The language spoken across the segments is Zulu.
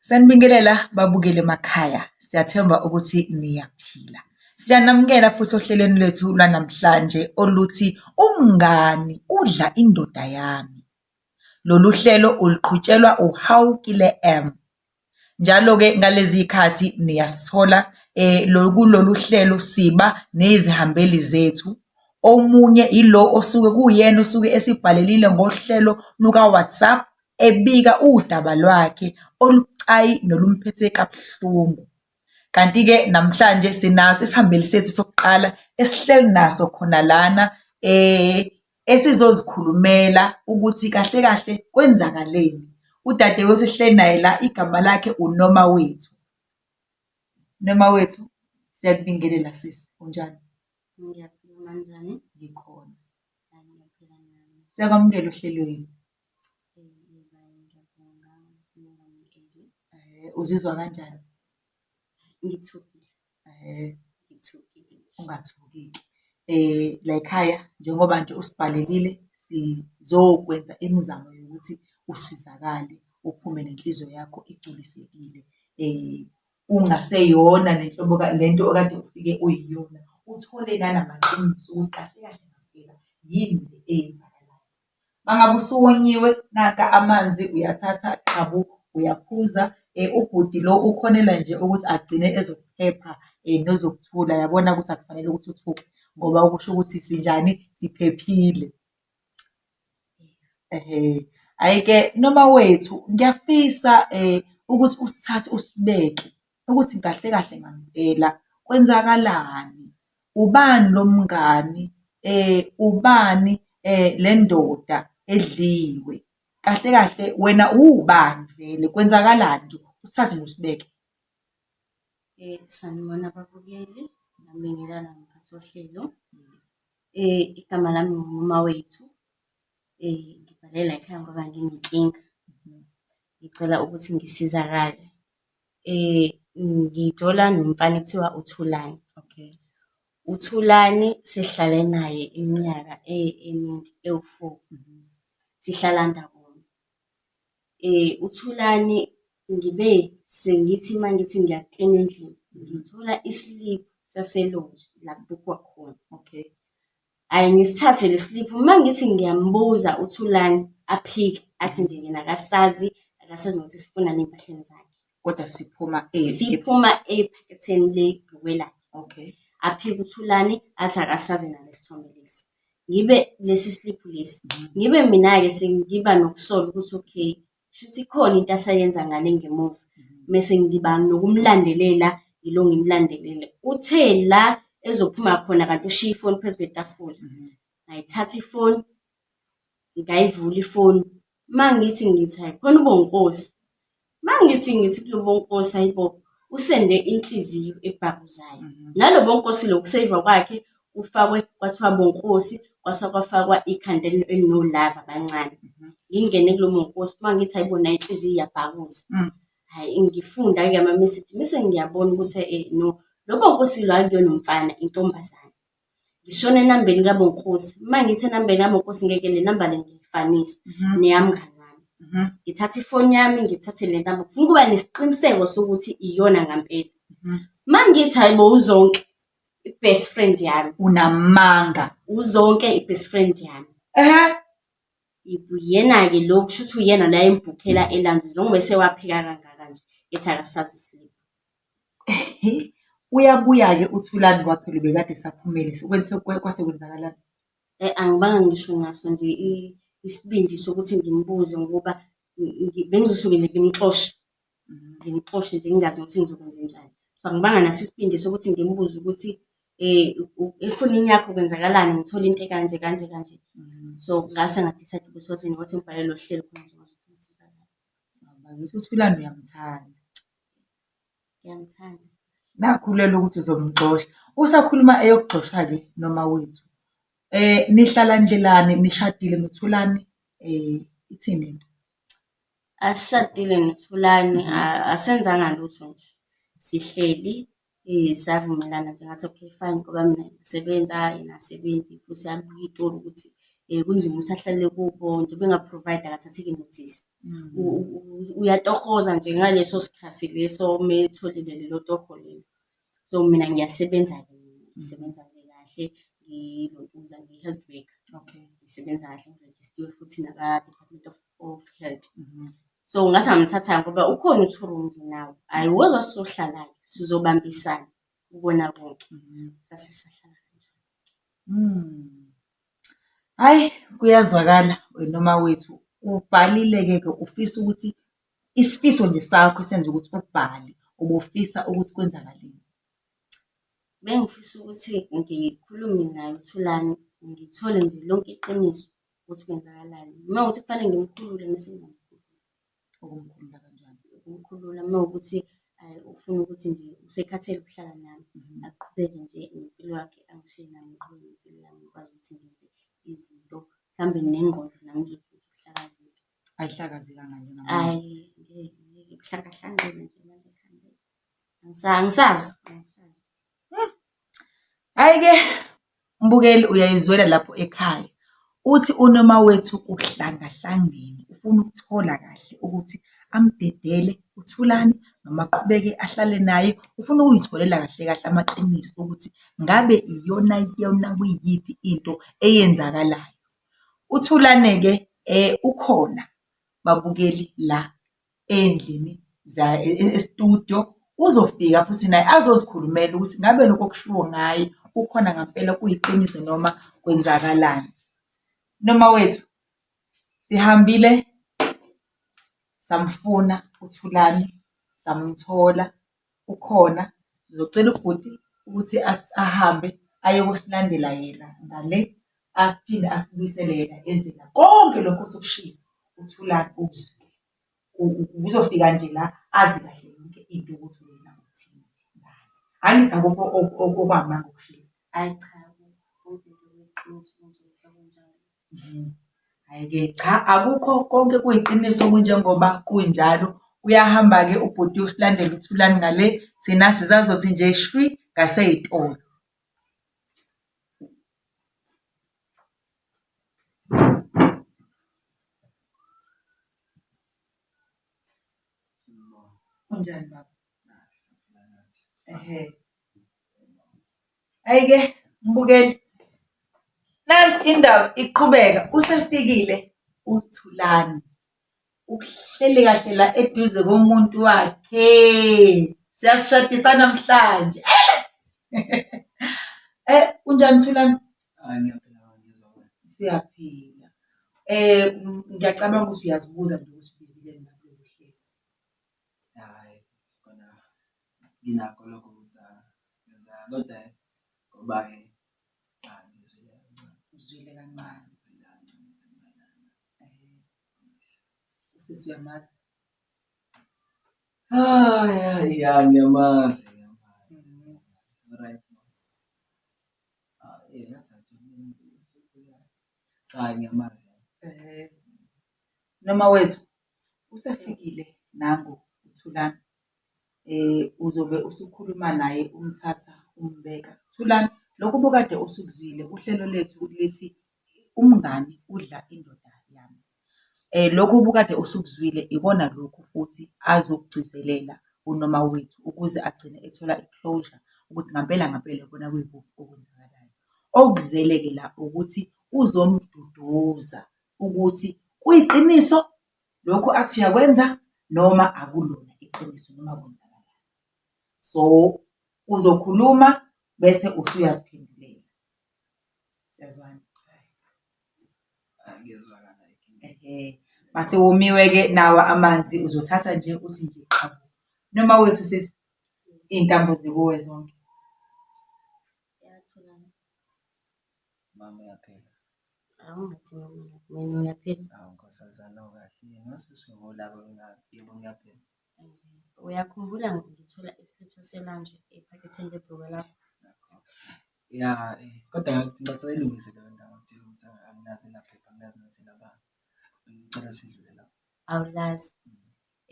Sanibingelela babukeli emakhaya, siyathemba ukuthi niyaphila. Siyanamukela futhi ohlelweni lwethu lwanamhlanje oluthi umngani udla indoda yami. Lolu hlelo uluqhutshelwa uHawukile M. Njalo-ke ngalezi khathi niyasithola eh, lo- kulolu hlelo siba nezihambeli zethu. Omunye ilo osuke kuyena osuke esibhalelile ngohlelo luka-WhatsApp ebika udaba lwakhe olubucayi nolumphethe kabuhlungu. Kanti-ke namhlanje sinaso isihambeli sethu sokuqala esihleli naso khona lana um esizozikhulumela ukuthi kahle kahle kwenzakaleni. Udade wesihleli naye la igama lakhe uNoma Wethu. Noma Wethu, siyakubingelela sisi, unjani? Ngiyaphila, unjani? Ngikhona. Siyakwamukela ohlelweni. Uzizwa kanjani? Ngithukile. Ngithukile. Ungathukile. Layikhaya njengoba nje usibhalelile sizokwenza imizamo yokuthi usizakale uphume nenhliziyo yakho igculisekile. Ungaseyona le nhlobo le nto okade ufike uyiyona, uthole nanamaqiniso ukuthi kahle kahle ngempela yini le eyenzakalayo. Mangabe usuwonyiwe naka amanzi uyathatha qhabu uyaphuza ubhuti lo ukhonela nje ukuthi agcine ezokuphepha nozokuthula yabona ukuthi akufanele ukuthi uthuke ngoba okusho ukuthi sinjani siphephile. Hhayi-ke noma wethu ngiyafisa ukuthi usithathe usibeke ukuthi kahle kahle ngampela kwenzakalani, ubani lo mngani, ubani le ndoda edliwe, kahle kahle wena uwubani vele kwenzakalani nje usithathe nje usibeke. Sanibona babukeli nabingelana mphathi wohlelo. Igama lami nguMawethu ngibhalela ekhaya ngoba nginenkinga, ngicela ukuthi ngisizakale. Ngijola nomfana ekuthiwa uThulani. Okay. UThulani sihlale naye iminyaka eminingi ewu-four, sihlala ndawonye. UThulani ngibe sengithi uma ngithi ngiyaklina endlini, ngithola isiliphu saselokishini la kubukwa khona. Okay. Hhayi ngisithathe le slip, uma ngithi ngiyambuza uThulani aphike athi nje yena akasazi, akasazi nokuthi sifunani ey'mpahleni zakhe. Kodwa siphuma Siphuma ephaketheni lebhukwe lakhe. Okay. Aphike uThulani athi akasazi yena lesithombe lesi. Ngibe lesi slip lesi. Ngibe mina-ke sengiba nokusola ukuthi okay, shuthi ikhona into asayenza ngale ngemuva mese ngiba nokumlandelela ngilo ngimlandelele uthe la ezophuma khona kanti ushiya ifoni phezu kwetafula mhm. ngayithatha ifoni ngayivula ifoni uma ngithi ngithi hayi khona ubonkosi uma ngithi ngithi kulo bonkosi hayibo usende inhliziyo ebhakuzayo mhm. nalo bonkosi lo kuseyiva kwakhe kufakwe kwathiwa bonkosi kwase kwafakwa ikhanda elinolava abancane mhm. ngingene kulo monkosi uma ngithi hayibo nayo inhliziyo iyabhakuza mm. hayi ngifunda-ke ama-message bese ngiyabona ukuthi um no lo bonkosi lo akuyona umfana intombazane ngishona enambeni kabonkosi uma ngithi enambeni kabonkosi ngeke le namba le ngiyifanise mhm. neyamngani wami mhm. ngithatha ifoni yami ngithathe le namba ngifuna ukuba nesiqiniseko sokuthi iyona ngampela uma ngithi hayibo uzonke i-best friend yami unamanga uzonke i-best friend yami ehe uyena-ke lo kusho ukuthi uyena la embhukhela elandle njengoba esewaphika kangaka nje ethi akasazi isilima uyabuya-ke uthulani kwaphela ubekade saphumele sekwenze- kwe- kwase kwenzakalani Eh, angibanga ngisho ngaso nje i- isibindi sokuthi ngimbuze ngoba ngi- ngi- bengizosuke nje ngimxoshe ngimxoshe nje ngingazi ukuthi ngizokwenza njani so angibanga naso isibindi sokuthi ngimbuze ukuthi um efonini yakho kwenzakalani ngithole into ekanje kanje kanje mm. so ngase ngadicide ukuthi wathi ngothi ngibhale lo hlelo khona ngizokwazi ukuthi ngisizakale ngithi ukuthi kulani uyamthanda ngiyamthanda nakhulela ukuthi uzomxosha usakhuluma eyokugxosha-ke noma wethu um nihlala ndlelani nishadile nithulani um ithini into Asishadile noThulani, asenzanga lutho nje. Sihleli savumelana nje ngathi okay fine ngoba mina ngisebenza yena akasebenzi futhi abuye itolo ukuthi kunzima ukuthi ahlale kubo njengoba enga-provide akathathi kinothisi. Uyatohoza nje ngaleso sikhathi leso uma etholile lelo toho lelo. So mina ngiyasebenza-ke mina, ngisebenza nje kahle ngilontuza ngi-health worker. Okay. Ngisebenza kahle ngirejistiwe futhi naka-Department of, of Health. Mhm. So ngase ngamthatha ngoba ukhona uThurungi nawo. Hhayi woza sizohlala-ke sizobambisana kubona konke. Mhm. Sase sahlala kanjalo. Mm. Hayi kuyazwakala wena mawethu ubhalile-ke ke ufisa ukuthi Isifiso nje sakho esenza ukuthi ubhale, ubufisa ukuthi kwenzakaleni? Bengifisa ukuthi ngikhulume naye uThulani, ngithole nje lonke iqiniso ukuthi kwenzakalani. Uma ukuthi kufanele ngimkhulule mese ngiyamkhulula. Ukumkhulula kanjani? Ukumkhulula uma ukuthi eh, ufuna ukuthi nje usekhathele ukuhlala nami, mhm. aqhubeke nje nempilo yakhe angishiye nami ngiqhubeke nempilo yami ngikwazi ukuthi ngenze izinto mhlawumbe nengqondo nami izothi ukuhlakazeka. ayihlakazekanga nje ngamanje hayi kuhlakahlanqile nje manje ekhanda Angisa- angisazi angisazi hayi-ke mbukeli uyayizwela lapho ekhaya uthi unoma wethu uhlangahlangene ufuna ukuthola kahle ukuthi amdedele uthulani noma aqhubeke ahlale naye ufuna ukuyitholela kahle kahle amaqiniso ukuthi ngabe iyona yona kuyiyiphi into eyenzakalayo UThulane-ke ukhona babukeli la ey'ndlini e-studio, uzofika futhi naye azozikhulumela ukuthi ngabe lokhu okushiwo ngaye kukhona ngampela kuyiqiniso noma kwenzakalani. Noma wethu sihambile samfuna uThulane samthola. ukhona sizocela ubhuti ukuthi ahambe ayokosilandela yena ngale aphinde asibuyisele yena ezela konke lokho osikushilo uthulani ukuzwile uzofika nje la azi kahle yonke into ukuthi wena uthini ngani angithi akukho okwamanga okushilo ayi cha konke nje kuyiqiniso Hhayi-ke cha akukho konke kuyiqiniso kunjengoba kunjalo. Uyahamba-ke ubhuti usilandela uThulani ngale, thina sisazothi nje shwi ngasey'tolo. Unjani baba? Ehhe. Hhayi-ke mbukeli, nansi indaba iqhubeka usefikile uThulani. Uhleli kahle la eduze komuntu wakhe. Siyashadisa namhlanje. Eh, unjani Thulani? Hayi ngiyaphila ngizwa wena. Siyaphila. Eh, ngiyacabanga ukuthi uyazibuza nje ukuthi ubizile nina kulo hlelo. Hhayi kona nginakho lokho ukuthi ngenzeka kodwa ngoba-ke cha ngizwile kancane. Uzwile kancane? Ngizwile kancane ukuthi kumayelana. Usisi uyamazi? Ah, ya ya ngiyamazi ngiyamazi. Right. Ah, eh ngathi cha ngiyamazi. Noma wethu usefikile nangu uThulani. Eh uzobe usukhuluma naye umthatha umbeka. Thulani lokhu bukade usukuzwile uhlelo lethu lithi umngani udla indoda yami. Eh lokhu bukade usukuzwile ikona lokhu futhi azokugcizelela unoma wethu ukuze agcine ethola i-closure ukuthi ngampela ngampela kona kuyikuphi okwenzakalayo. Okuzele-ke la ukuthi uzomduduza ukuthi kuyiqiniso lokhu athi uyakwenza noma akulona iqiniso noma kwenzakalani. So uzokhuluma bese usuyaziphendulela. Siyazwana? Ngiyezwakala. Ehhe. Mase womiwe-ke nawa amanzi uzothatha nje uthi nje qhabu. Noma wethu sisi iy'ntambo zikuwe zonke. Mama uyaphila. Awungathi mama mina uyaphila. Awu nkosazana awukahle yini wasusungolaba mina yebo ngiyaphila. Uyakhumbula ngithola islip saselanje ephaketheni lebhruka lakho. Ya eh, kodwa ngicela ilungise leyo ndawo ngitshela ukuthi anginazi naphepha anginazi nokuthi nabani. Ngicela sidlule lapho. Awulazi.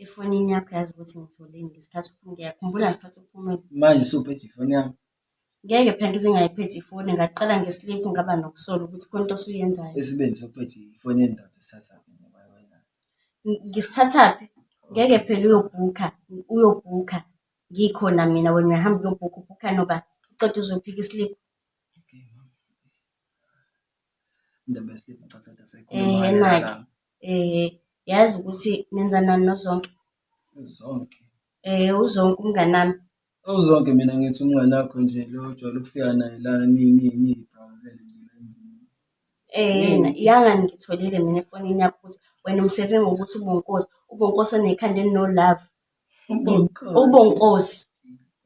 Efonini yakho yazi ukuthi ngitholeni ngesikhathi uphuma ngiyakhumbula ngesikhathi uphumile. Manje usuphi ejifonini yami? Ngeke phela ngize ngayiphethe ifoni ngaqala nge-sleep ngaba nokusola ukuthi khona into osuyenzayo. Isibindi sokuphethe ifoni yendoda sithathaphi noma wena. Ng- Ngisithathaphi? Ngeke phela uyobhukha, uyobhukha. Ngikhona mina wena uyahamba uyobhukha, ubhukha noba uqeda uzophika i-sleep. Okay, mama. Indaba yeslip ngicatha ukuthi aseyikhuluma Eh, ngale nake. lana. Eh, yazi ukuthi nenza nani nozonke. Zonke. Eh, uzonke umnganami. Ewu Zoke mina ngithi umnganakho nje lo ojwayele ukufika naye la ni- ni- niyibhawuzele nje la endlini. um yangani ngitholile mina efonini yakho ukuthi wena umsebenzi wokuthi ubonkosi ubonkosi onekhanda elinolove Ubonkosi. ubonkosi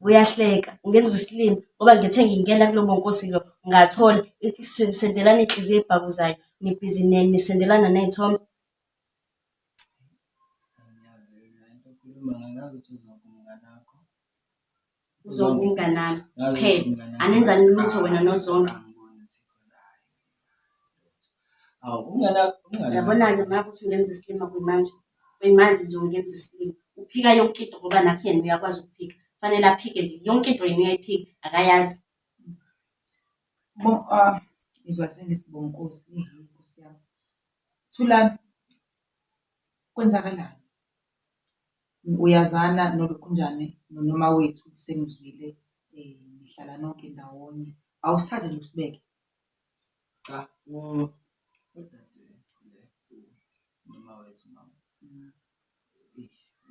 uyahleka ngenza isilima ngoba ngithe ngingena kulo bonkosi lo ngathola ithi sendelana inhliziyo ebhakuzayo nibhizi ne- nisendelana ney'thombe uzonke umnganami phela anenzani lutho wena nozonke yabona-ke maka ukuthi ungenza isilima kuyimanje kuyimanje nje ungenza isilima uphika yonke into ngoba nakho yena uyakwazi ukuphika kufanele aphike nje yonke into yena uyayiphika akayazi ngizwa sengisibonkosi Thulani, kwenzakalani? Uyazana noLukhunjane noNomawethu sengizwile nihlala nonke ndawonye. Awusithathe nje usibeke. Cha, udade uNomawethu mama.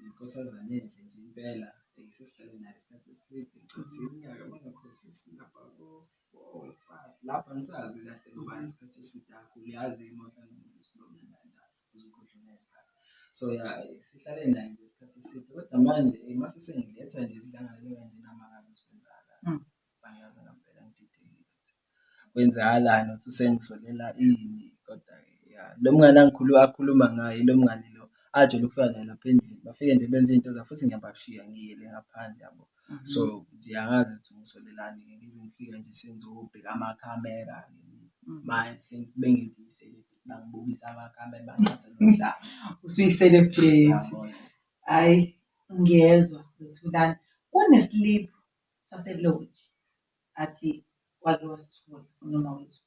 inkosazane enhle nje impela sesihlale nayo isikhathi eside ngicathi iminyaka bangakhosi singapha ko-four or five lapho angisazi kahle ngoba isikhathi eside kakhulu yazi imohla nomuntu sikhuluma kanjalo uzokhohlwa nesikhathi so ya sihlale nayo nje isikhathi eside kodwa manje uma sesengiletha nje isidlangane kanje namakazi usibenzakala Angazi ngampela ngididekile ukuthi kwenzakalani ukuthi usengisolela ini kodwa ya lo mngani angikhuluma akhuluma ngaye lo mngani lo ajele ukufika naye lapha endlini bafike nje benze into zabo futhi ngiyabashiya ngiyele ngaphandle yabo mhm. so nje angazi ukuthi ngisolelani ngize ngifike nje sengizobheka amakhamera mhm. manje bengithi i-celebrity bangibukisa amakhamera bangathi nomhlaba usuyi-celebrity hayi ngiyezwa ukuthi ulani kunesiliphu saselodge athi wake wasithola unoma wethu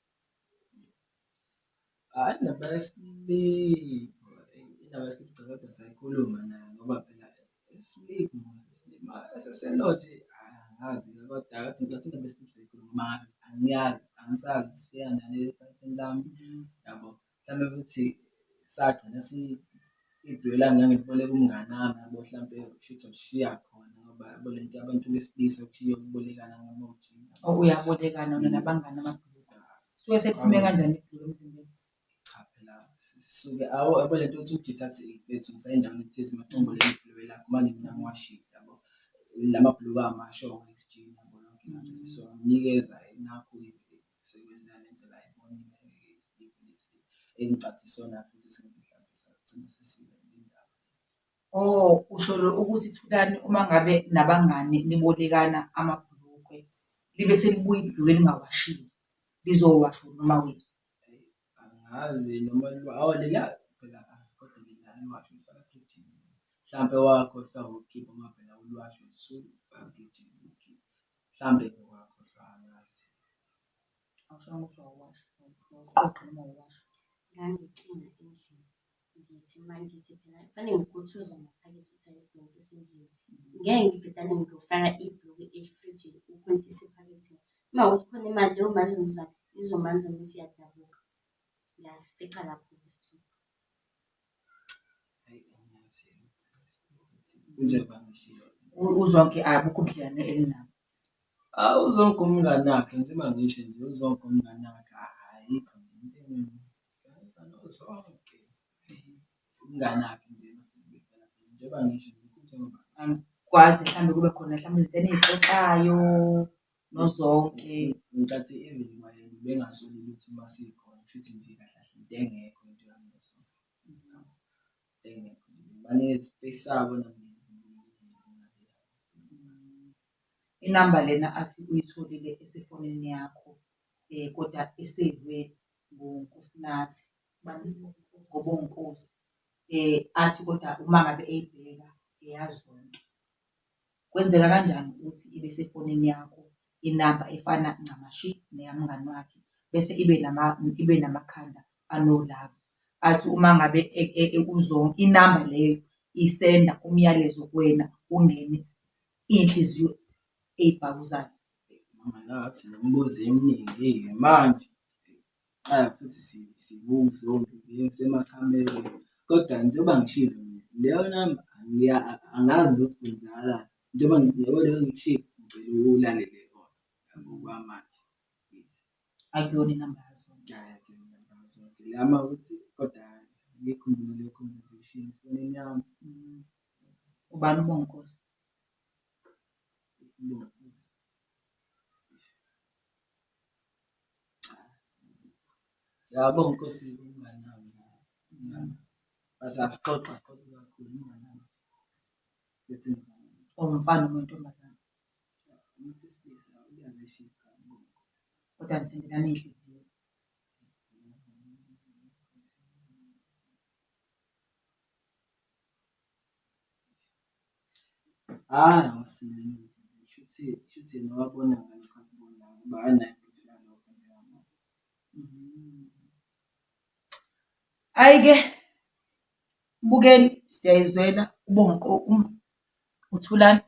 hayi indaba yesiliphu indaba yesiliphu cha kodwa sayikhuluma naye ngoba phela isiliphu sesilima seselodge angazi kodwa kade ngicathi indaba yesiliphu sayikhuluma angiyazi angisazi sifika nale ephathini lami yabo mhlawumbe ukuthi sagcina si iduyo lami ngangiboleka umngani wami yabo mhlampe kushuthi ushiya khona ngoba yabo le nto abantu besilisa kushiye ukubolekana ngomuthi Oh, uyabolekana wena nabangani ababhuluka. Suke sephume kanjani ibhuluka emzimbeni? cha phela sisuke awu yabo le nto ukuthi uditha athi mfethu ngisayendaweni ethize macombo le mibhuluko lakho manje mina ngiwashile yabo la mabhuluko amasho ngokujina yabo yonke into so nginikeza nakho imvelo Sekwenzeka le nto la ebonini engeke isilive lesi engicathe sona futhi sengithi mhlawumbe sagcina sesibe nendaba. Oh, usho lo ukuthi Thulani uma ngabe nabangani nibolekana amabhulukwe libe selibuya ibhulukwe lingawashile lizowashwa noma wethu. Angazi noma liwa awu lela phela ah, kodwa lela aliwasho lifaka fridge. Mhlawumbe wakhohlwa ukukhipha uma phela uliwasho lisuke lifaka fridge. Mhlambe wakhohlwa angazi. Awushongo ukuthi wawasha. Uqoqe noma wawasha. Ngangiklina endlini. Ngithi uma ngithi phela kufanele ngikuthuza ngaphakathi ukuthi ayikontisa endlini. Ngeke ngibhedane ngiyofaka ibhulukwe efrijini ukontisa ephaketheni. Uma ukuthi khona imali leyo mali izomzala izomanza mese iyadabuka. Ngiyafica lapho. Uzonke abukho ubudlelwane enginabo. Awu uZonke umngani wakhe nje uma ngisho nje uZonke umngani wakhe ayikho nje into engimtshela uZonke umngani wakhe nje njengoba ngisho nje . Angikwazi mhlawumbe kube khona mhlawumbe izinto eniyixoxayo. nozonke ngicathi even kwayena bengasoli ukuthi uma sikhona kushuthi nje kahle kahle into engekho into yami leso engekho baningi besabo inamba lena athi uyitholile esefonini yakho um kodwa eseyivwe ngunkosinathi ngobonkosi um athi kodwa uma ngabe eyibheka eyazonke Kwenzeka kanjani ukuthi ibe sefonini yakho inamba efana ncamashi neyamngani wakhe bese ibe ibe namakhanda anolaka, athi uma ngabe inamba leyo isenda umyalezo kuwena ungene iy'nhliziyo ey'bhakuzayo? Mama Nyathi, nemibuzo eminingi-ke manje. Qala futhi sibungu zonke ngisemakhameni kodwa njengoba ngishilo leyo namba angazi ukuthi kwenzakalani njengoba njengoba leyo ngishilo ngicela ulalele kona ngokwamanje akuyona inamba yazo lama ukuthi kodwa ngikhumbule leyo conversation efonini yami mm. ubani ubonkosi Yabo Nkosi umnganami. Bathi asixoxa sixoxe kakhulu umnganami. Ethi njani? Umfana umuntu omdala. Umuntu wesilisa uyazishika. Kodwa ngithendelana inhliziyo. Ayi-ke Mbukeli siyayizwela uBonga kokunye, uThulani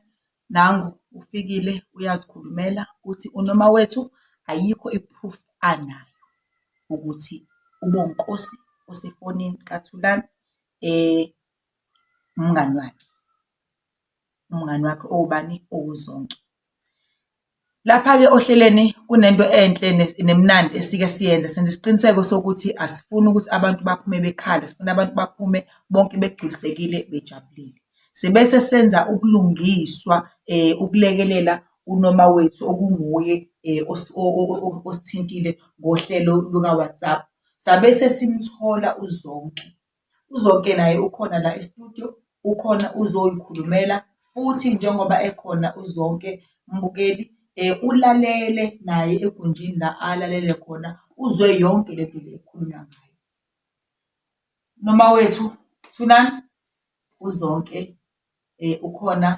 nangu ufikile uyazikhulumela uthi unoma wethu ayikho i-proof anayo ukuthi uBonginkosi usefonini kaThulani . umngani wakhe, umngani wakhe owubani? OwuZonke. Lapha-ke ohlelweni kunento enhle nemnandi esike siyenze, senza isiqiniseko sokuthi asifuni ukuthi abantu baphume bekhala, sifuna abantu baphume bonke begculisekile, bejabulile. Sibese senza ubulungiswa ukulekelela unoma wethu okunguye osithintile ngohlelo luka-WhatsApp, sabe sesimthola uZonke. UZonke naye ukhona la e-studio, ukhona uzoyikhulumela futhi njengoba ekhona uZonke mbukeli ulalele naye egunjini la alalele khona uzwe yonke le nto le ekhulunywa ngayo. Mama wethu Thulani, uZonke ukhona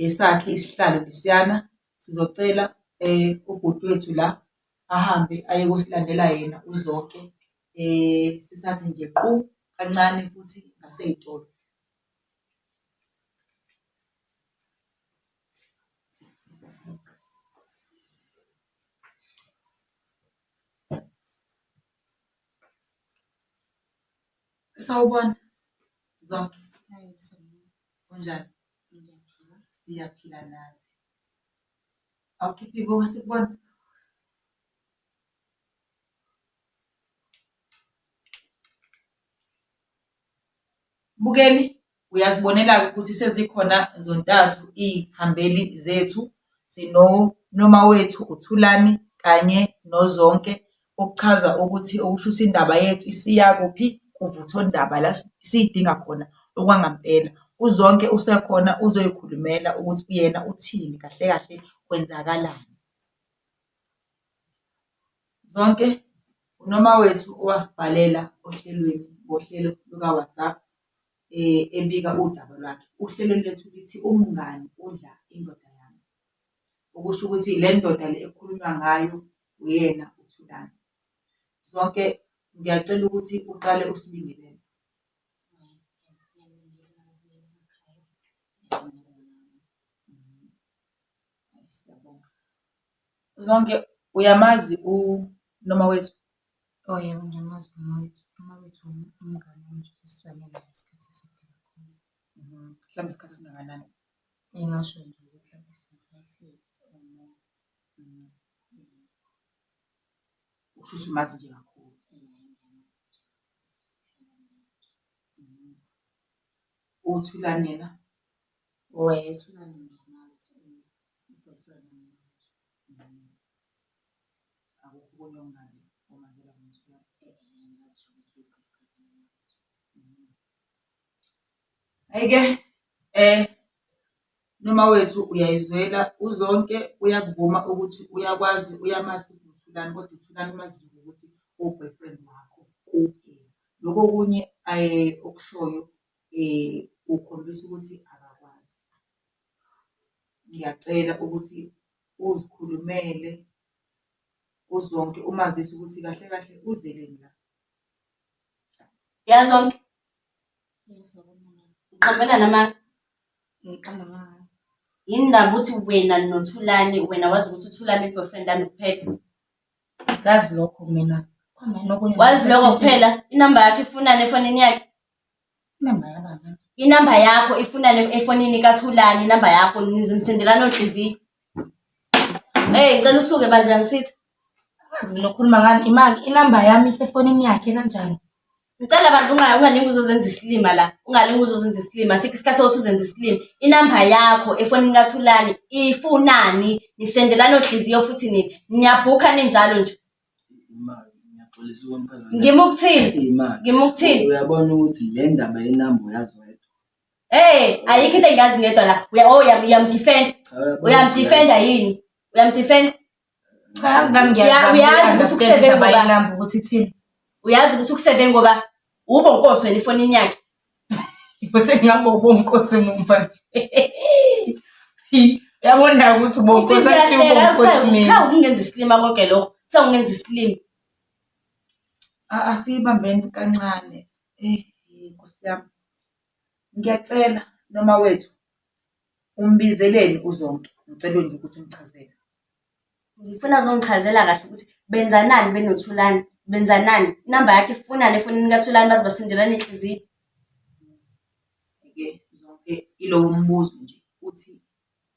esakhe isihlalo lesiyana, sizocela ubhuti wethu la ahambe aye kosilandela yena uZonke. um sithathe nje qu kancane futhi ngasey'tolo. Sawubona Zoso. Kunjani? Siyaphila nathi. Awukhiphi ibuko sikubone? Mbukeli, Uyazibonela-ke ukuthi sezikhona zontathu izihambeli zethu, sinoNomawethu uThulani kanye noZonke, okuchaza ukuthi okusho ukuthi indaba yethu isiya kuphi? Kuvuthondaba la siyidinga khona okwangampela. UZonke usekhona uzoyikhulumela ukuthi yena uthini kahle kahle kwenzakalani. Zonke uNomawethu owasibhalela ohlelweni ngohlelo luka-WhatsApp ebika udaba lwakhe. Uhlelo lwethu lithi umngani udla indoda yami, okusho ukuthi le ndoda le ekukhulunywa ngayo uyena uThulani. Zonke ngiyacela ukuthi uqale usibingelele. Siyabonga. Zonke uyamazi uNomawethu? Oh yebo, ngiyamazi uNomawethu. UNomawethu umngani wami nje sesijwayele naye isikhathi eside kakhulu. Mhlawumbe isikhathi esingakanani? Engasho nje ukuthi mhlawumbe singu-five years or more. Kusho ukuthi umazi nje kakhulu. Uthulani yena? Ayike um noma wethu uyayizwela uZonke uyakuvuma ukuthi uyakwazi uyamazi ukuthi uThulani kodwa uThulani umazi nje ngokuthi uwu-boyfriend wakho kuphela. Lokhu okunye okushoyo um ukhombisa ukuthi akakwazi. Ngiyacela ukuthi uzikhulumele uZonke umazise ukuthi kahle kahle uzeleni la. YaZonke? Uqambela nama? Ngiqamba ngani? Yini ndaba uthi wena noThulani wena wazi ukuthi uThulani i-boyfriend yami kuphela? Ngazi lokho mina. Khona nokunye. Wazi lokho kuphela? Inamba yakhe ifunani efonini yakhe? Inamba yakho ifuna le efonini kaThulani, inamba yakho nizimsendelana onhliziyo. Hey, ngicela usuke bandla ngisithi. Azi mina ukhuluma ngani imali inamba yami isefonini yakhe kanjani? Ngicela bandla unga- ungalingi uzozenza isilima la. Ungalingi uzozenza isilima. Sikho isikhathi sokuthi uzenze isilima. Inamba yakho efonini kaThulani ifunani? Nisendelana onhliziyo futhi nini? Niyabhukha ninjalo nje. Ngima ukuthini? Ngima ukuthini? Uyabona ukuthi le ndaba yenamba uyazi wedwa. Hey, ayikho into engiyazi ngedwa la. Uya oh uyamdefend. Uyamdefenda yini? Uyamdefenda? Cha yazi nami ngiyazi. Uyazi ukuthi ukuseve ngoba inamba ukuthi ithini. Uyazi ukuthi ukuseve ngoba Ubonkosi wena ifonini yakhe. Usengabe ubonkosi mumva nje. Yabona ukuthi ubonkosi asiyo ubonkosi mina. Cha ukungenza isilima konke lokho. Cha ungenza isilima. Asiyibambeni kancane. Eh Nkosi yami. Ngiyacela noma wethu umbizeleni uzonke. Ngicela nje ukuthi umchazele. Ngifuna azongichazela kahle ukuthi benzanani benoThulani, benzanani. Inamba yakhe ifunani efonini kaThulani baze basindelane inhliziyo. Ngeke zonke ilowo mbuzo nje uthi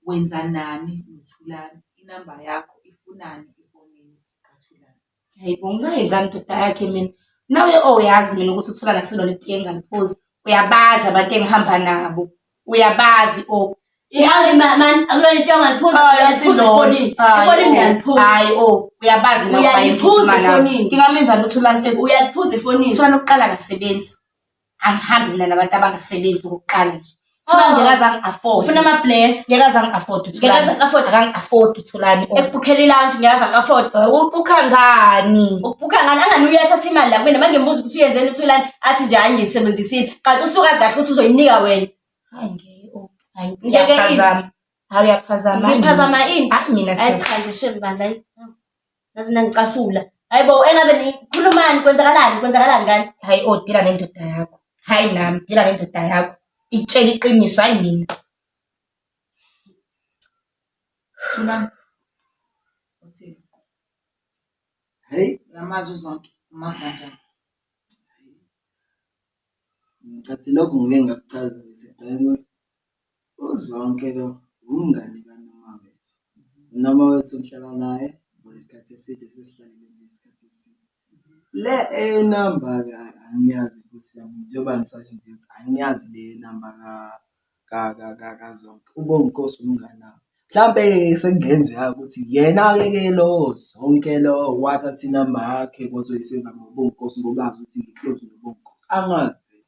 wenzanani noThulani, inamba yakho ifunani efonini kaThulani. Hayi bo ngingayenzani ndoda yakhe mina. Nawe oyazi mina ukuthi uthola nakuselona itiye engaliphuzi. Uyabazi abantu engihamba nabo. Uyabazi o. Yazi ma- man akulona into angaliphuza Hayi, uyaliphuza asilona. efonini Hayi, efonini o. uyaliphuza Hayi o, uyabazi mina Uyaliphuza ukuba yigijima nami. efonini. Ngingamenzani ukuthi ulamfethu? uyaliphuza efonini Iswana lokuqala akasebenzi. angihambi mina nabantu abangasebenzi okokuqala nje Thula Oh. ngeke azange afford. ufuna ama-bless Ngeke azange afford Ngeke uThulani. azange afford. Akange afford uThulani. Oh, ekubhukhela ilunch ngeke azange afford Ubukha ngani? ukubhukha ngani angani uye athatha imali la kumina mangembuza ukuthi uyenzeni uthulani athi nje hayi ngiyisebenzisile kanti usuke azi kahle ukuthi uzoyinika wena Hayi ngeke. oh, Hayi Ngeke uyaphazama. Hayi uyaphazama. ngiphazama ini Hayi mina Hayi sis. cha nje shame bandla ayi. Ngaze nangicasula. Hayi bo, engabe nikhulumani kwenzakalani kwenzakalani kani? Hayi o dila nendoda yakho. Hayi nami dila nendoda yakho. Ikutshela iqiniso hayi mina. Thulani. Uthini? Hey, Namazi uzonke. Umazi kanjani? ngicacile lokhu ngike ngakuchaza ngiseqela ukuthi UZonke lo wumngani kaNomawethu. UNomawethu ngihlala naye for isikhathi eside sesihlalile nje isikhathi eside. Le eyenamba-ke ayi angiyazi nkosi yami njengoba ngisasho nje ukuthi angiyazi le yenamba kaZonke. UBonginkosi umngani wami. Mhlampe-ke sekungenzeka-ke ukuthi yena-ke ke lo Zonke lo wathatha inamba yakhe wazoyiseyiva ngoBonginkosi ngoba azi ukuthi ngi-close noBonginkosi, angazi vele.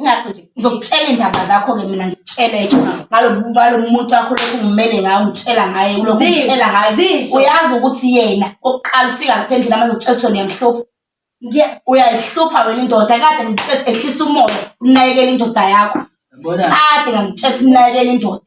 Ngakho nje ngizokutshela indaba zakho ke mina ngikutshele ngalo muntu wakho lokhu ngimele ngayo ngitshela ngaye ulokhu ngitshela ngayo uyazi ukuthi yena oqala ufika lapha endlini manje utshela ukuthi uyamhlupha uyayihlupha wena indoda kade ngitshela ehlisa umoya unakekela indoda yakho kade ngangitshela unakekela indoda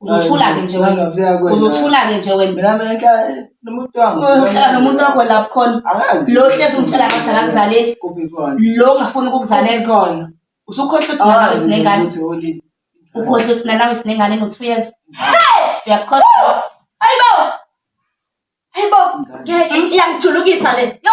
uzothula-ke nje wena uzothula-ke nje wena nomuntu wakho lapho khona lo hlezi ungitshela ngathi akakuzaleli lo ungafuni ukukuzalelkhona usukhohlwa ukuthi nanawe sinengane ukhohlwa ukuthi nanawe sinengane no-two years uyakukhohlwa ayibo ayibo iyangijulukisa le yo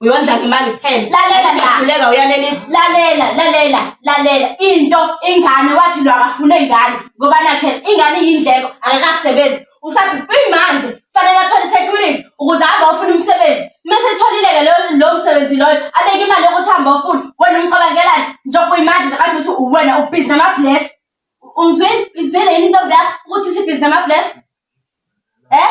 uyondla ngemali kuphela lalela lahluleka uyanelisa lalela lalela lalela into ingane wathi lo akafune ingane ngoba nakhe ingane iyindleko akakasebenzi usabhizi kuyimanje kufanele athole security ukuze ahambe ofuna umsebenzi mase etholileke lo msebenzi loyo abeke imali yokuthi hambe ofuna wena umcabangelani njengoba uyimanje nje kanje ukuthi uwena ubhizi namabless uzwile izwile yini intombi yakho ukuthi isibhizi namabless eh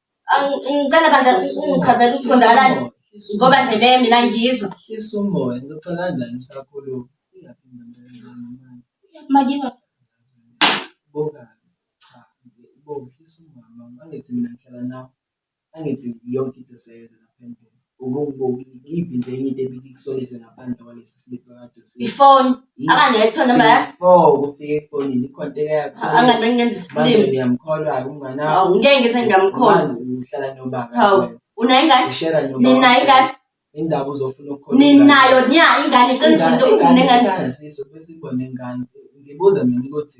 Ngicela bandla ungichazela ukuthi konzakalani ngoba nje le mina ngiyizwa. Hlisa umoya ngizocela kanjani usakhulu iyaphi ngempela manje. Makiba. Boka. Cha, boka hlisa umama angithi mina ngihlala nawe. Angithi yonke into seyenza lapha endlini. Iyiphi nje enye into ebikusolise ngaphandle kwalesi slip akade usi- ifoni Yini? akangethwa noma ya Before kufika efonini ikhonteka yakho angabe ngenza manje isilima niyamkholwa-ke umngane wakho awu ngeke ngize ngingamkhona Manje uhlala nobaba hawu wena. unayo ingane Ushera nobaba ninayo wakho. ingane Indaba uzofuna ukukhona ninayo nya ingane iqiniso into usinengane ingane siso besibone ingane ngibuza mina ukuthi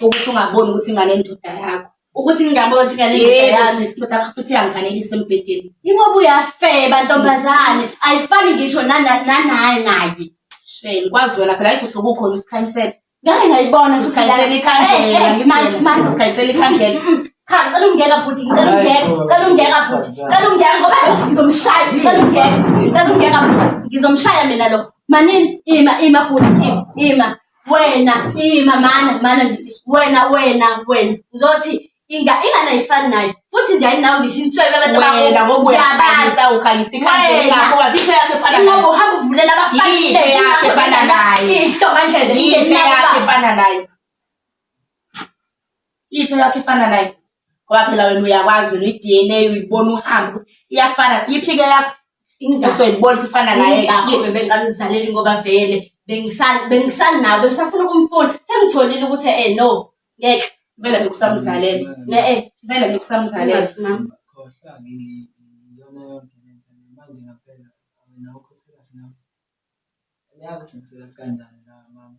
ukuthi ungaboni ukuthi ingane endoda yakho ukuthi ngingabona ukuthi ngane yami isindoda yakho futhi iyangifanelisa embhedeni ingoba uyafeba ntombazane ayifani ngisho nanaye ngaye shame kwazi wena phela yithi usukukhona usikhanyisela ngake ngayibona usikhanyisela ikhandlela eh, eh, ngimanje usikhanyisela ikhandlela mm, mm, mm. cha ngicela ungiyeka bhuti ngicela ungiyeka ngicela ungiyeka bhuti ngicela ungiyeka ngoba ngizomshaya ngicela ungiyeka ngicela ungiyeka bhuti ngizomshaya mina lo manini ima ima bhuti ima wena ima mana mana nje wena wena wena uzothi inga ingane ayifani nayo futhi nje ayinawo ngisho inswebe abantu wena ngoba uyabalisa ukhalisa ikhanda ngakho kazi into yakhe efana nayo ngoba uhamba uvulela abafana into yakhe efana nayo into ngandlebe into yakhe efana nayo Iphi yakho ifana nayo? Ngoba phela wena uyakwazi wena i-DNA uyibona uhamba ukuthi iyafana. Iphi ke yakho? Into soyibona ifana naye. Ingakho bengamzaleli ngoba vele bengisani bengisani nawe bengisafuna ukumfuna sengitholile ukuthi eh no ngeke vele bekusamzalele ne eh vele bekusamzalele mama khohla ngili yona yonke lento manje ngaphela awena ukho sika sina uyazi sengisiza sikanjani la mama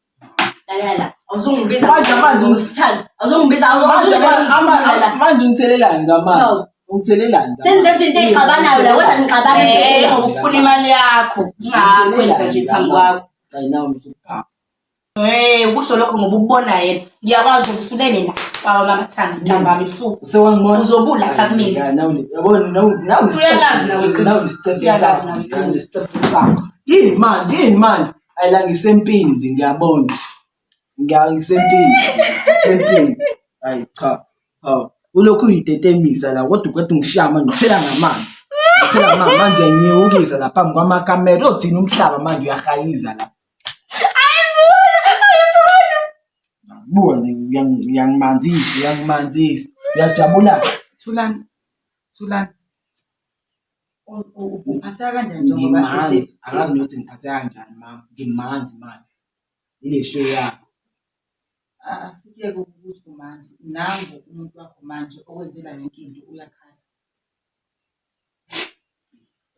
manje ungithelelani ngamanzi ungithelelani sengisethi into eyixabanayo la kodwa ngixabana eh, ngokufuna imali yakho ingakwenza nje phambi kwakho Hey eh, kusho lokho ngoba ubona yena ngiyakwazi ukuthi unene la baba mama thanga ntambama ebusuku sewangibona uzobula pha kumina yabona nawu uyalazi nawu uyalazi nawu yini manje yini manje Hayi la ngisempini nje ngiyabona. Ngiya ngisempini. Ngisempini. Hayi cha. Hawu. Ulokhu uyitetemisa la kodwa ukwethu ngishiya manje ngithela ngamanzi. Ngithela ngamanzi manje ngiyewukisa la phambi kwamakamera. Othina umhlaba manje uyahayiza la. Buka nje uyang- uyangimanzisa, uyangimanzisa. Uyajabula. Thulani. Thulani. Uphatheka kanjani njengoba Ngimanzi, ese- angazi nokuthi ngiphatheka kanjani mama ngimanzi manje ile show yakho Ah, Asiyeke ukuthi kumanzi nangu umuntu wakho manje okwenzela yonke into uyakhala.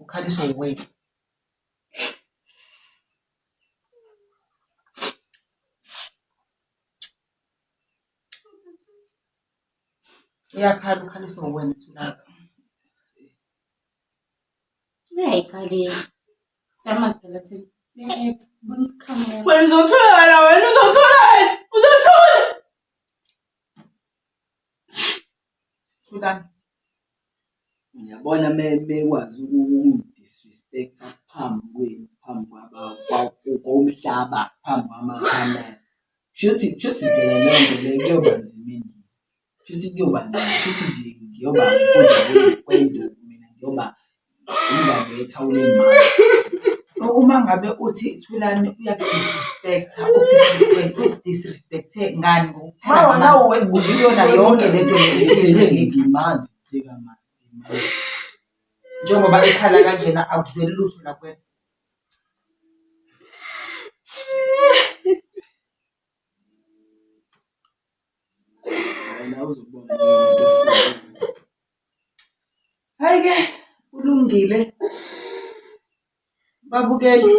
Ukhaliswa uwena. Uyakhala ukhaliswa uwena thulaka. Uyayikhalisa. Siyamazi phela thina. Uya-act. Bona ukukhamela. Wena uzothula wena wena uzothula wena uzothula. Thulani. Ngiyabona mekwazi ukungi-disrespect-a phambi kwenu, phambi komhlaba, phambi kwamakhamera. Kushuthi kushuthi phela leyo nto leyo kuyoba nzima endlini. Kushuthi kuyoba nzima, kushuthi nje ngiyoba ukudla kwenu kwenduku mina ngiyoba ungaletha ulimali uma ngabe uthi thulani uyakudisrespecta ukudisrespecte ngani ngokuthanda yonke le nto ngimanzi njengoba ekhala kanjena akuzweli lutho lakwena Hhayi ke kulungile babukeli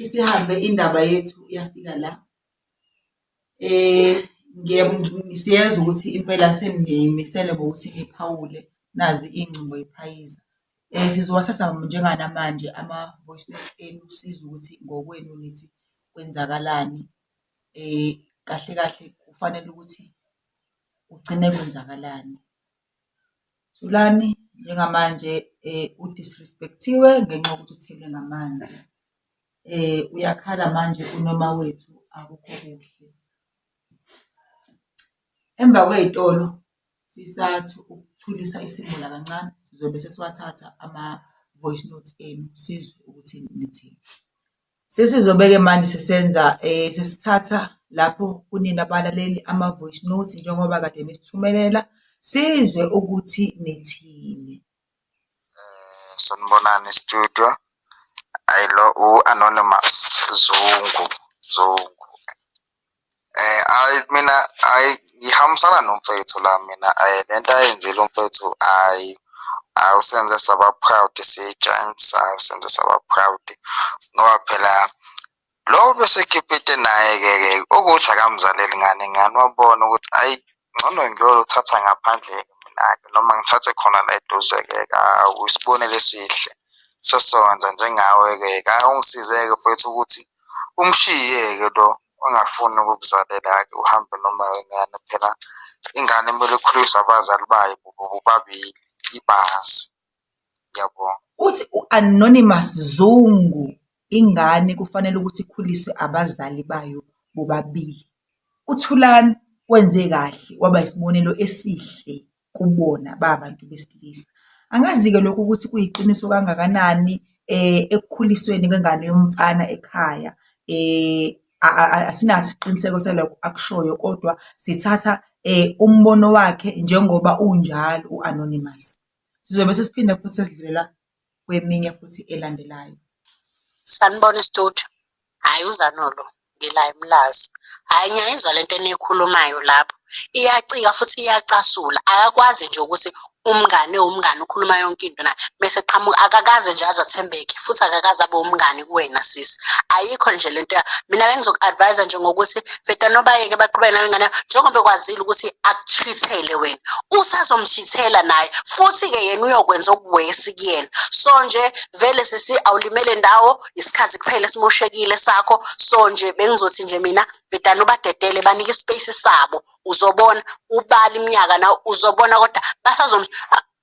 isihambe indaba yethu yafika la. Siyezwa ukuthi impela senimisele ngokuthi niphawule nazi iy'ngcingo y'phayiza. Sizowathatha njenganamanje ama-voice note enu sizwe ukuthi ngokwenu nithi kwenzakalani. Kahle kahle kufanele ukuthi. kugcine kwenzakalani. Thulani njengamanje u-disrespect-iwe ngenxa yokuthi uthelwe ngamanzi, uyakhala manje uNomawethu akukho kuhle. Emva kwey'tolo sisathi ukuthulisa isimila kancane sizobe sesiwathatha ama-voice note enu sizwe ukuthi nithini. Sesizobe-ke manje sesenza sesithatha lapho kunina balaleli ama-voice note njengoba kade nisithumelela sizwe ukuthi nithini. Eh, sanibonani studio. Ayilo u-Anonymous Zungu Zungu. Eh ay mina ay ngihambisana nomfethu la mina ay eh, lento ayenzile umfethu ay awusenze saba proud siyi-giants awusenze saba proud ngoba phela lowo besekipite naye-ke-ke ukuthi akamzaleli ngane ngane wabona ukuthi ayi Ngcono ngiyoluthatha ngaphandle-ke mina-ke noma ngithathe khona la eduze-ke usibonelo esihle sesizokwenza njengawe-ke ka ungisize-ke mfwethu ukuthi umshiye-ke lo ongafuni ukukuzalela-ke uhambe noma wengane phela ingane kumele ikhuliswe abazali bayo bobabili ibazi ngiyabonga uthi u-anonymous zungu Ingane kufanele ukuthi ikhuliswe abazali bayo bobabili. UThulani wenze kahle waba isibonelo esihle kubona ba bantu besilisa. Angazi-ke lokho ukuthi kuyiqiniso kangakanani ekukhulisweni kwengane yomfana ekhaya asinaso isiqiniseko salokho akushoyo kodwa sithatha umbono wakhe njengoba unjalo u-anonymous. Sizobe sesiphinda futhi sesidlulela. kweminye futhi elandelayo. Sanibona studio. Hayi uzanolo ngila emlazi. Hayi ngiyayizwa lento enikhulumayo lapho. Iyacika futhi iyacasula. Akakwazi nje ukuthi umngane umngane ukhuluma yonke into na bese qhamuka akakaze nje azathembeke futhi akakaze abe umngane kuwena sisi ayikho nje lento mina bengizoku-advise nje ngokuthi bheda nobayeke baqhubeke nalengane njengoba ekwazile ukuthi akuchithele wena usazomshithela naye futhi-ke yena uyokwenza okuwesi kuyena so nje vele sisi awulimele ndawo isikhathi kuphela esimoshekile sakho so nje bengizothi nje mina vedane ubadedele banike ispace sabo uzobona ubala iminyaka na uzobona kodwa basazom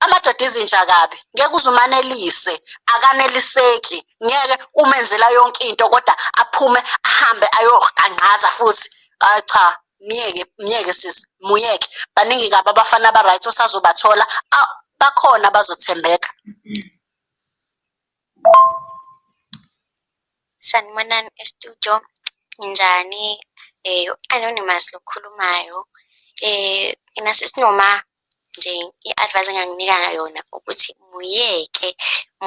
amadoda izinja kabi ngeke uzumanelise akaneliseki ngeke umenzela yonke into kodwa aphume ahambe ayoqanqaza futhi cha myeke myeke sisi muyeke baningi kabi abafana aba-right osazobathola bakhona abazothembeka sanibonani estudio ninjani um eh, u-anonymous lokhulumayo um eh, mina sisinoma nje i-advice enganginika yona ukuthi muyeke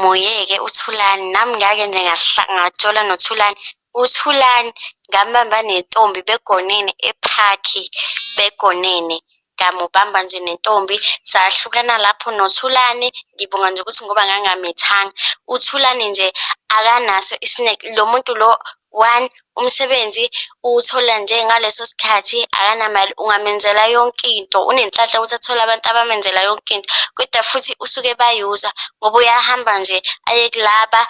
muyeke uthulani nami ngake nje ngajola nothulani uthulani ngambamba nentombi begonene ephakhi begonene ngamubamba nje nentombi sahlukana lapho nothulane ngibonga nje ukuthi ngoba ngangamethanga uthulane nje akanaso isineke lo muntu lo one umsebenzi uwuthola nje ngaleso sikhathi akanamali ungamenzela yonke into unenhlanhla ukuthi athole abantu abamenzela yonke into kodwa futhi usuke bayuza ngoba uyahamba nje aye kulaba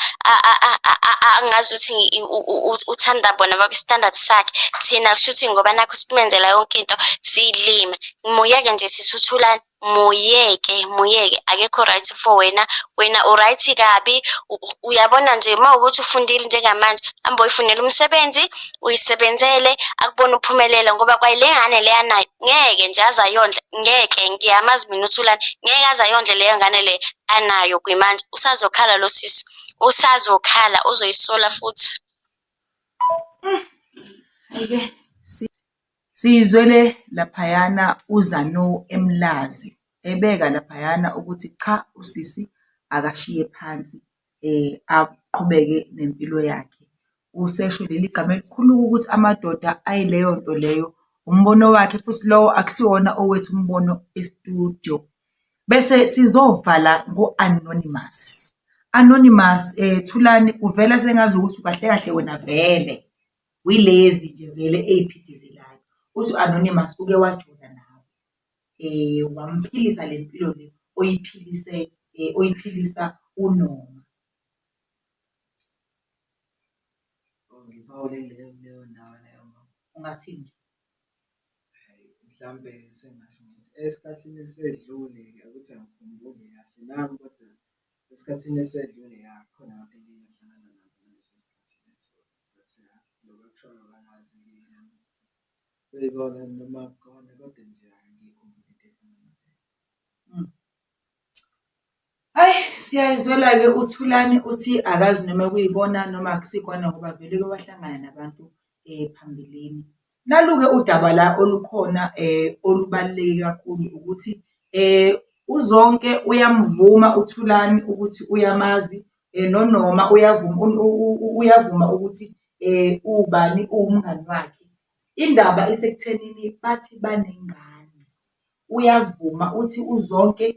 angazi ukuthi uthanda bona babistandard sakhe thina kusho ukuthi ngoba nakho simenzela yonke into siyilima muyeke nje sisuthulane muyeke muyeke akekho right for wena wena uright kabi uyabona nje uma ukuthi ufundile njengamanje hamba uyifunela umsebenzi uyisebenzele akubona uphumelela ngoba kwayile ngane leya nayo ngeke nje aze ayondle ngeke ngiyamazi mina uthulane ngeke aze ayondle leyo ngane le anayo kwimanje usazokhala lo sisi usazokhala uzoyisola futhi mm. ayike Siyizwele laphayana uZanou eMlazi ebeka laphayana ukuthi cha usisi akashiye phansi aqhubeke nempilo yakhe. Usesho leli gama elikhulu ukuthi amadoda ayileyo nto leyo, umbono wakhe futhi lowo akusiwona owethu umbono e-studio. Bese sizovala ngo-Anonymous. Anonymous, Thulani kuvela sengazukuthi kahle kahle wena vele Wilezi nje vele ey'phithizelayo. Uthi u-Anonymous uke wajola nawe, um wamphilisa le mpilo le oyiphilise um oyiphilisa uNoma. Ngiphawule kuleyo kuleyo ndawo leyo ngoba Ungathini? hhayi mhlampe sengasho ngithi esikhathini esedlule-ke ukuthi angikhumbuli kahle nami kodwa esikhathini esedlule ya khona abantu engiye ngahlangana nabo ngaleso sikhathi leso. Ayi siyayizwela-ke uThulani uthi akazi noma kuyikona noma akusikona ngoba vele uke wahlangana nabantu phambilini. Nalu-ke udaba la olukhona olubaluleke kakhulu ukuthi uZonke uyamvuma uThulani ukuthi uyamazi noNoma uyavuma uyavuma ukuthi ubani uwumngani wakhe. Indaba isekuthenini bathi banengane, uyavuma uthi uZonke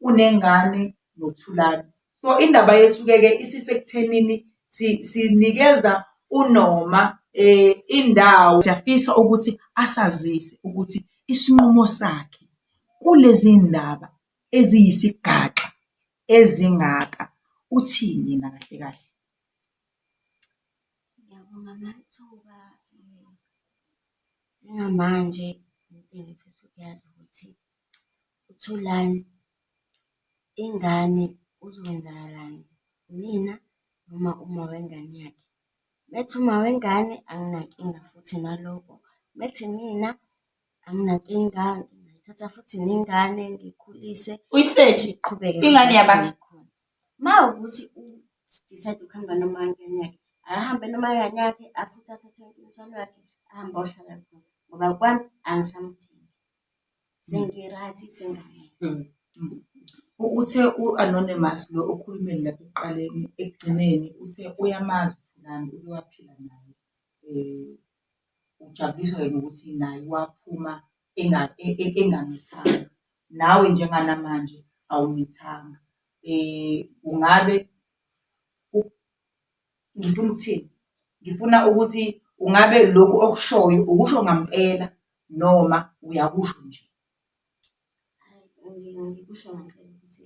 unengane noThulani. So indaba yethu-ke-ke isisekuthenini sinikeza unoma um indawo. Siyafisa ukuthi asazise ukuthi isinqumo sakhe kulezi ndaba eziyisigaxa ezingaka uthini yena kahle kahle. Ngiyabonga amathuba njengamanje into engifisa ukuyazi ukuthi UThulani, Ingane kuzokwenzakalani, unina noma uma wengane yakhe? Uma ethi uma wengane anginankinga futhi naloko, uma ethi imina anginankinga ngithatha futhi nengane ngikhulise siqhubeke Uma kuwukuthi u-decide ukuhamba noma ingane yakhe, akahambe noma ingane yakhe futhi athathe umthwalo wakhe ahambe ayohlala khona ngoba kwami angisamdingi. Sengiryt sengane. Mm. Uthe u-Anonymous lo okhulumeni lapha ekuqaleni ekugcineni uthe uyamazi uThulani uke waphila naye. Um ujabuliswa yena ukuthi naye waphuma engamithanga. Nawe njenganamanje awumithanga. Um ungabe ngifuna ukuthini? Ngifuna ukuthi ungabe lokhu okushoyo ukusho ngampela noma uyakusho nje? Ngikusho ngempela ukuthi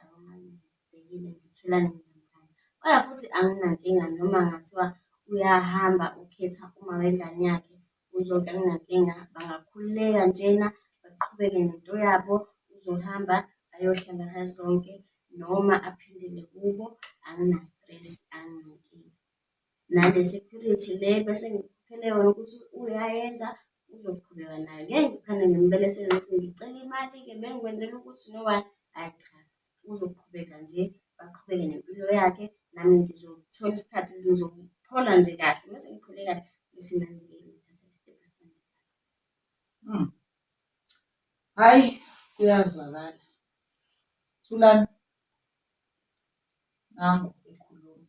angibhekile ngitholane nomzali. Kodwa futhi anginankinga noma kungathiwa uyahamba ukhetha uma wengane yakhe uzonke anginankinga, bangakhululeka njena baqhubeke nento yabo. Uzohamba ayohlala kazonke noma aphindele kubo angina-stress anginankinga. nane-security le bese ngikhokhela yona ukuthi uyayenza uzoqhubeka nayo. Ngeke ngiphane ngimbelesele ngithi ngicela imali-ke bengikwenzela ukuthi nobani, ayi cha uzoqhubeka nje aqhubeke nempilo yakhe nami ngizothola isikhathi ngizophola nje kahle mese ngiphole kahle bese nami ngithatha isitephu esilandelayo. Hmm. Hhayi kuyazwakala. Thulani, nangu ekhuluma.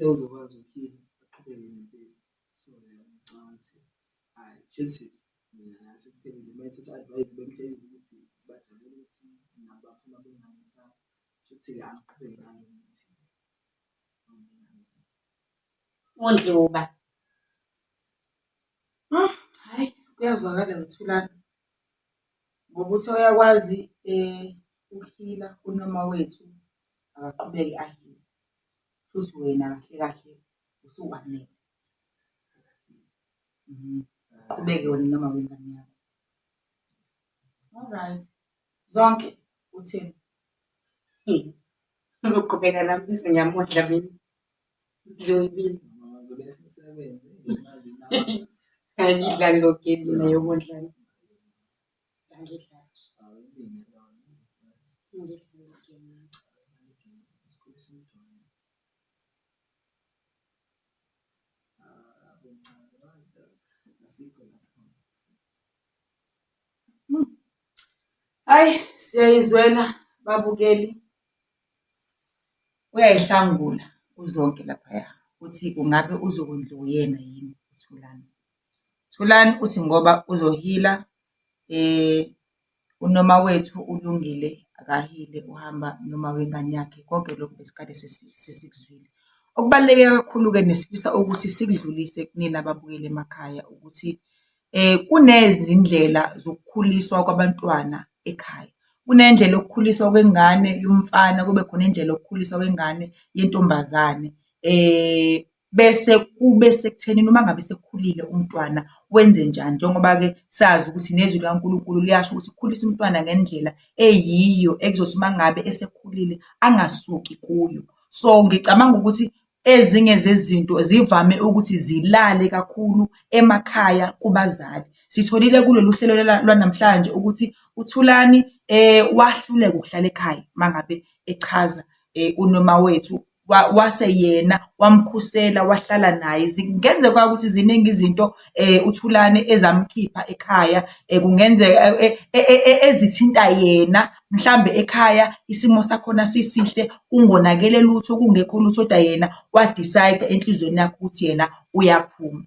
sewuzokwazi ukuphila aqhubeke nempilo so ngicabanga ukuthi hayi Chelsea mina nase kuphelile uma ethatha advice bemtshela ukuthi bajabule ukuthi nabo baphuma bengayenza futhi ke aqhubeke nalo ukuthi uNdluba Hhayi kuyazwakala Mthulane ngoba uthe uyakwazi ukuphila unina wethu akaqhubeke aphile shuthi wena kahle kahle usuwanele. Uqhubeke wena noma wengane yakho. Alright Zonke, uthini? Ngizoqhubeka nami bese ngiyamondla mina. Angidlali lo game mina yokudlala. Angidlali. Hayi siyayizwela babukeli. Uyayihlangula uZonke laphaya, uthi ungabe uzokondliwa uyena yini uThulani. Thulani uthi ngoba uzohila unoma wethu uLungile akahile uhamba noma wengane yakhe, konke lokhu besikade sesikuzwile. Okubaluleke kakhulu-ke nesifisa ukuthi sikudlulise kunina ababukeli emakhaya ukuthi Kunezindlela zokukhuliswa kwabantwana ekhaya. Kunendlela yokukhuliswa kwengane yomfana, kube khona indlela yokukhuliswa kwengane yentombazane. Bese kube sekuthenini uma ngabe esekhulile umntwana wenzenjani, njengoba-ke sazi ukuthi nezwi likaNkulunkulu liyasho ukuthi ukhulisa umntwana ngendlela eyiyo ekuzothi uma ngabe esekhulile angasuki kuyo. So, ngicabanga ukuthi Ezinye zezinto zivame ukuthi zilale kakhulu emakhaya kubazali. Sitholile kulolu hlelo lwanamhlanje ukuthi uThulani wahluleka ukuhlala ekhaya uma ngabe echaza uNomawethu wase yena wamkhusela wahlala naye. Kungenzeka ukuthi ziningi izinto uThulani ezamkhipha ekhaya kungenzeka ezithinta yena mhlambe ekhaya isimo sakhona sisihle kungonakele lutho kungekho lutho koda yena wa-decide-a enhlizweni yakhe ukuthi yena uyaphuma.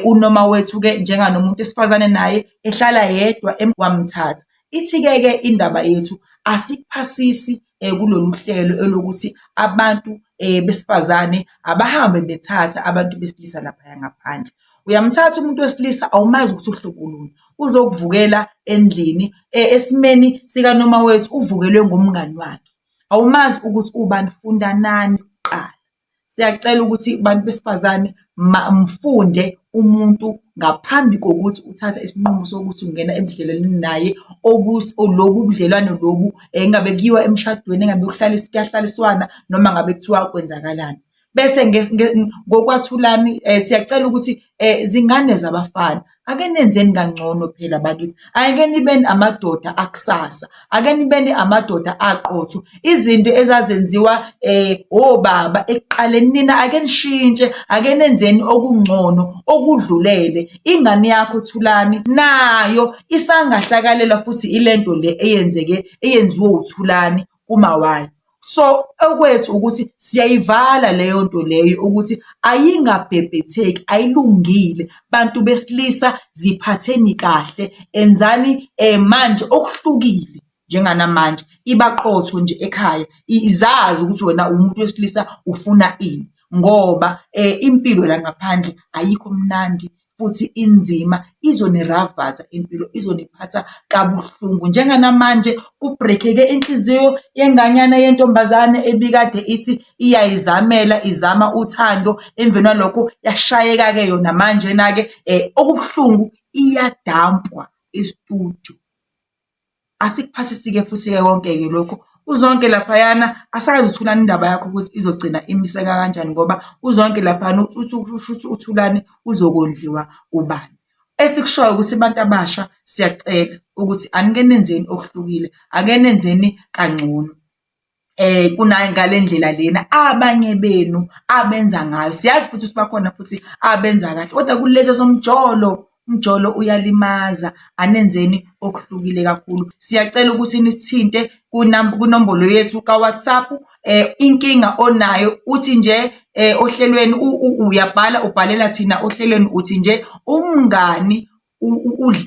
Unoma wethu-ke njenganomuntu esifazane naye ehlala yedwa wamthatha. Ithi-ke ke indaba yethu asikuphasisi kulolu hlelo elokuthi abantu besifazane abahambe bethathe abantu besilisa laphaya ngaphandle. Uyamthatha umuntu wesilisa awumazi ukuthi uhlobo luni, uzokuvukela endlini e, esimeni sikanoma wethu uvukelwe ngumngani wakhe. Awumazi ukuthi ubani, funda nani kuqala. Siyacela ukuthi bantu besifazane mfunde umuntu ngaphambi kokuthi uthathe isinqumo sokuthi ungena ebudlelwaneni naye lobu ubudlelwane lobu engabe eh, kuyiwa emshadweni engabe kuyahlaliswana noma ngabe kuthiwa kwenzakalani. bese ngokwathulani um siyacela ukuthi um zingane zabafana ake nenzeni kangcono phela bakithi ake nibeni amadoda akusasa ake nibeni amadoda aqotho izinto ezazenziwa um obaba ekuqaleni nina ake nishintshe ake nenzeni okungcono okudlulele ingane yakho thulani nayo isangahlakalela futhi ilento le eyenzeke eyenziwe uthulani kumawayo. So okwethu ukuthi siyayivala leyo nto leyo ukuthi ayingabhebhetheki, ayilungile. Bantu besilisa ziphatheni kahle, enzani manje okuhlukile njenganamanje, iba qotho nje ekhaya, izazi ukuthi wena uwumuntu wesilisa ufuna ini ngoba impilo la ngaphandle ayikho mnandi futhi inzima, izoniravaza impilo, izoniphatha kabuhlungu. Njenganamanje kubrekheke inhliziyo yenganyana yentombazane ebikade ithi iyayizamela, izama uthando, emveni kwalokho yashayeka-ke yona manjena-ke um okubuhlungu iyadampwa estudio. asikuphathisike futhi-ke konke-ke lokhu uzonke laphayana asazi uthulani indaba yakho ukuthi izogcina imiseka kanjani ngoba uzonke laphayana uthi uthulani uzokondliwa ubani esikushoyo ukuthi abantu abasha siyacela ukuthi anike nenzeni okuhlukile ake nenzeni kangcono eh kuna ngalendlela lena abanye benu abenza ngayo siyazi futhi sibakhona futhi abenza kahle kodwa kulezo somjolo umjolo uyalimaza anenzeni okuhlukile kakhulu siyacela ukuthi nisithinte kunombolo yethu kaWhatsApp eh inkinga onayo uthi nje eh ohlelweni uyabhala ubhalela thina ohlelweni uthi nje umngani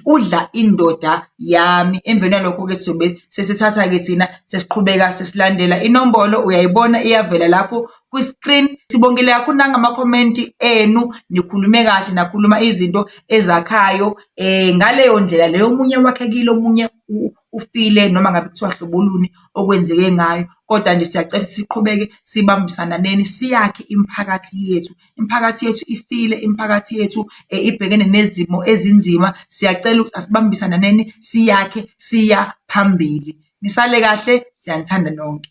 udla indoda yami emveni yalokho-ke sizobe sesithatha-ke thina sesiqhubeka sesilandela inombolo uyayibona iyavela lapho kwi-screen sibongile kakhulu nangamakhomenti enu nikhulume kahle nakhuluma izinto ezakhayo um ngaleyo ndlela leyo omunye wakhekile omunye ufile noma ngabe kuthiwa hlobo luni okwenzeke ngayo, kodwa nje siyacela ukuthi siqhubeke sibambisananeni siyakhe imiphakathi yethu. Imiphakathi yethu ifile, imiphakathi yethu ibhekene nezimo ezinzima, siyacela ukuthi asibambisananeni siyakhe siya phambili. Nisale kahle, siyanithanda nonke.